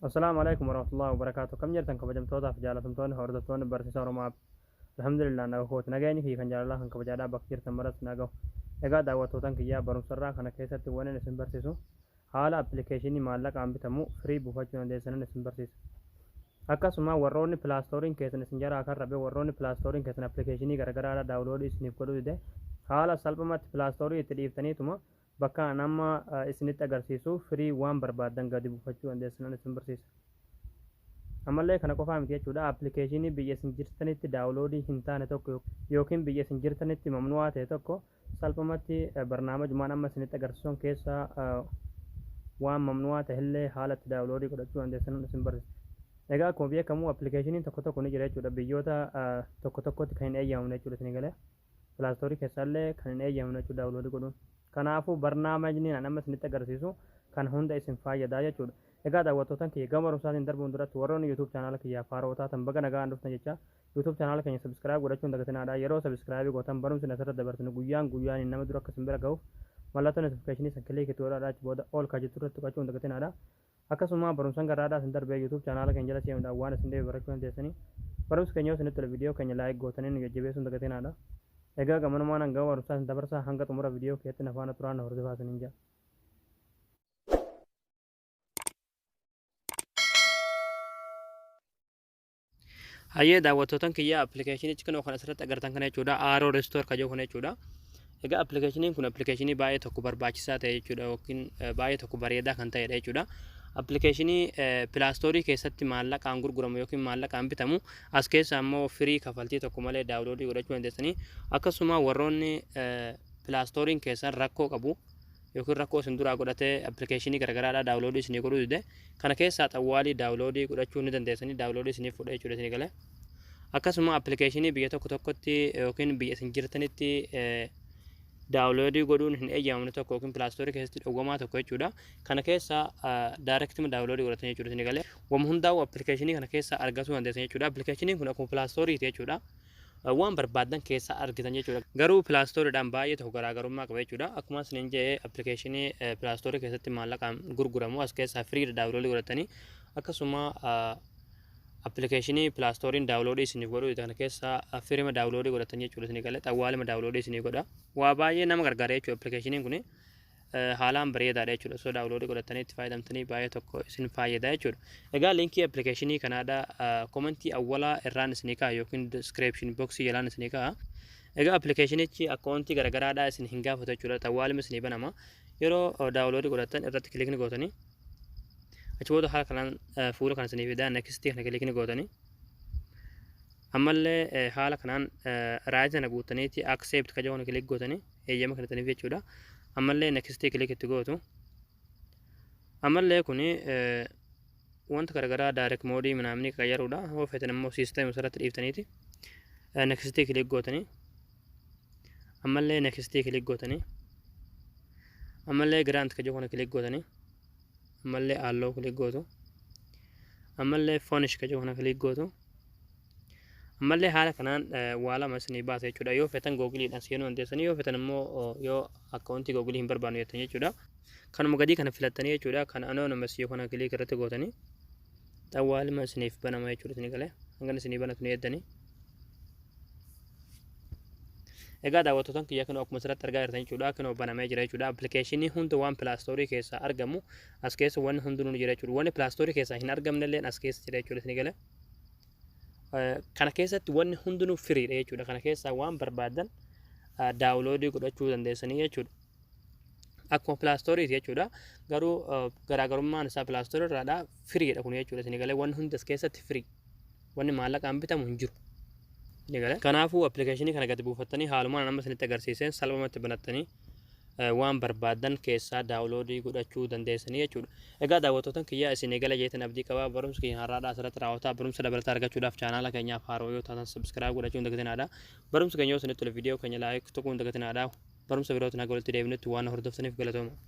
Assalaamu Alaikum Warahmatullahi Wabarakaatu Kam jirtan kabajamtootaaf jaalatamtoonni hordoftoonni barsiisa Oromoo App Alhamdulillah naga kooti nagayni fi kan jaalalaa kan kabajaadhaa bakka jirtan maratti nagahu egaa daawwattootan kiyyaa barumsarraa kana keessatti wanin isin barsiisu haala appilikeeshinii maallaqaan bitamu firii buufachuu dandeessanan isin barsiisa akkasuma warroonni pilaastooriin keessan isin jaraa kan rabe warroonni pilaastooriin keessan appilikeeshinii garagaraadha daawuloodii isiniif godhuu dide haala salphumatti pilaastoorii itti dhiiftaniituma Bakka an amma isinitti agarsiisu firii waan barbaaddan gadi buufachuu dandeessan an isin barsiisa. Ammallee kana qofaa miti jechuudha appilikeeshiinii biyya isin jirtanitti daawuloodii hin taane tokko yookiin biyya isin jirtanitti mamnu'aa ta'e tokko salphumatti barnaamajumaan amma isinitti agarsiisun keessa waan mamnu'aa ta'ellee haala itti daawuloodii godhachuu dandeessan an isin barsiisa. Egaa akkuma beekamu appilikeeshiiniin tokko tokko ni jira jechuudha biyyoota tokko tokkotti kan hin eeyyamamne jechuudha isinii galee. Play Store keessaallee kan hin eeyyamamne jechuudha download godhuun. Kanaafuu barnaamajni ani amma isinitti agarsiisu kan hunda isin faayyada jechuudha. Egaa daawwattootan kiyya gama barumsaatiin darbuun duratti warroonni YouTube channel kiyyaaf haarawa taatan baga nagaan dhuftan jechaa YouTube channel keenya subscribe godhachuu hin dagatinaadha. Yeroo subscribe gootan barumsi asirratti dabarsinu guyyaan guyyaaniin nama dura akka isin bira gahuuf mallattoo notification san click itti godhaadha achi booda all kan jettu irratti tuqachuu hin dagatinaadha. Akkasuma barumsan garraadhaa isin darbee youtube channel keenya jala seenudhaan waan isin dhibe barrachuu dandeessani. Barumsi keenya yoo isinitti tole video keenya like gootanii nu jajjabeessuu hin dagatinaadha. Egaa gamanumaan hangawa barumsaa isin dabarsaa hanga xumura video keetti na faana turaa na hordofaa isiniin ja'a. Hayyee daawwattootan kiyya appilikeeshinichi kunoo kan asirratti agartan kana jechuudha. Aaroo Restoor kan jedhu kana jechuudha. Egaa appilikeeshiniin kun appilikeeshinii baay'ee tokko barbaachisaa ta'e jechuudha yookiin eh, baay'ee tokko bareedaa kan ta'edha jechuudha. Appilikeeshinii pilaastoorii keessatti maallaqaan gurguramu yookiin maallaqaan bitamu as keessa ammoo firii kafaltii tokko malee daawuloodii godhachuu dandeessanii akkasuma warroonni eh, pilaastooriin keessan rakkoo qabu yookiin rakkoo isin duraa godhatee appilikeeshinii garagaraadhaa daawuloodii isinii godhuu dide kana keessaa xawwaalii daawuloodii godhachuu ni dandeessanii daawuloodii isiniif fudhee jechuudha isinii galee akkasuma appilikeeshinii biyya tokko tokkotti yookiin biyya isin jirtanitti daawuloodii godhuun hin eeyyamamne tokko yookiin pilaastoorii keessatti dhowwamaa tokko jechuudha kana keessaa daayirektima daawuloodii godhatan jechuudha isinii galee wam hundaa'u appilikeeshinii kana keessaa argatuu dandeessan jechuudha appilikeeshiniin kun akkuma pilaastooriiti jechuudha Waan barbaaddan keessaa argitan jechuudha. Garuu play store dhaan baay'ee tokko garaagarummaa qaba jechuudha. Akkuma isiniin jedhe application play store keessatti maallaqaan gurguramu as keessaa free dha download godhattanii akkasuma application play store download isiniif godhu kana keessaa firima download godhattan jechuudha isinii galee xawwaalima download isinii godha. Waa baay'ee nama gargaara jechuudha application kun. haalaan bareedaadha jechuudha. Osoo daawuloodii godhattanii itti fayyadamtanii baay'ee tokko isin faayyada jechuudha. Egaa liinkii appilikeeshinii kanaadha komentii awwalaa irraan isinii ka'a yookiin diskiripshin boksii jalaan isinii ka'a. Egaa appilikeeshinichi akkaawuntii garaagaraadhaa isin hin gaafatu jechuudha. Xawwaalima isinii banama. Yeroo daawuloodii godhattan irratti kilikni gootanii achi booda haala kanaan fuula kan isinii fidaa nekstii kana kilikni gootanii ammallee haala kanaan raayii sana guuttaniiti akseepti kaja kana kilik gootanii eeyyama kennitaniif jechuudha. Ammallee next click itti gootu. Ammallee kun wanta garaagaraa direct moodii minaamni qayyaruudha. Yoo feetan immoo system irratti dhiiftaniiti. Next click gootanii. Ammallee next click gootanii. Ammallee grant kajoo kana click gootanii. Ammallee alloo click gootu. Ammallee fonish kajoo kana click gootu. Ammallee haala kanaan waa lama isinii baasa jechuudha. Yoo fetan googiliidhaan seenuu dandeessanii yoo fetan immoo yoo akkaawuntii googilii hin barbaannu jettan jechuudha. Kanuma gadii kana filattanii jechuudha. Kan anonymous yoo kana kiliik irratti gootanii xawwaa lama isiniif banama jechuudha isinii galee. Hangan isinii banatu ni eeddanii. Egaa daawwattootaan kiyya kanoo akkuma asirratti argaa jirtan jechuudha. Kanoo banamee jira jechuudha. Appilikeeshinii hunda waan pilaastoorii keessaa argamu as keessa wanni hundinuu ni jira jechuudha. Wanni pilaastoorii keessaa hin argamne illee as keessa jira jechuudha isinii galee. Kana keessatti wanni hundinuu firiidha jechuudha. Kana keessaa waan barbaadan daawuloodii godhachuu dandeessanii jechuudha. Akkuma pilaastooriiti jechuudha. Garuu garaagarummaan isaa pilaastoorii irraadha. Firiidha kun jechuudha. Isin galee wanni hundi as keessatti firii. Wanni maallaqaan bitamu hin jiru. Isin galee. Kanaafuu appilikeeshinii kana gadi buufattanii haalumaan amma isinitti agarsiiseen salphumatti banattanii waan barbaadan keessaa daawuloodii godhachuu dandeessanii jechuudha. Egaa daawwattootan kiyyaa isin eegala jeetan abdii qabaa barumsi keenya har'aadhaa asirratti raawwataa barumsa dabalataa argachuudhaaf chaanaala keenyaaf haaroo yoo taatan subscribe godhachuu hin dagatinaadha. Barumsi keenya yoo isinitti tole viidiyoo keenya laayik tuquu hin dagatinaadha. Barumsa birootiin haga walitti deebinutti waan hordoftaniif galatooma.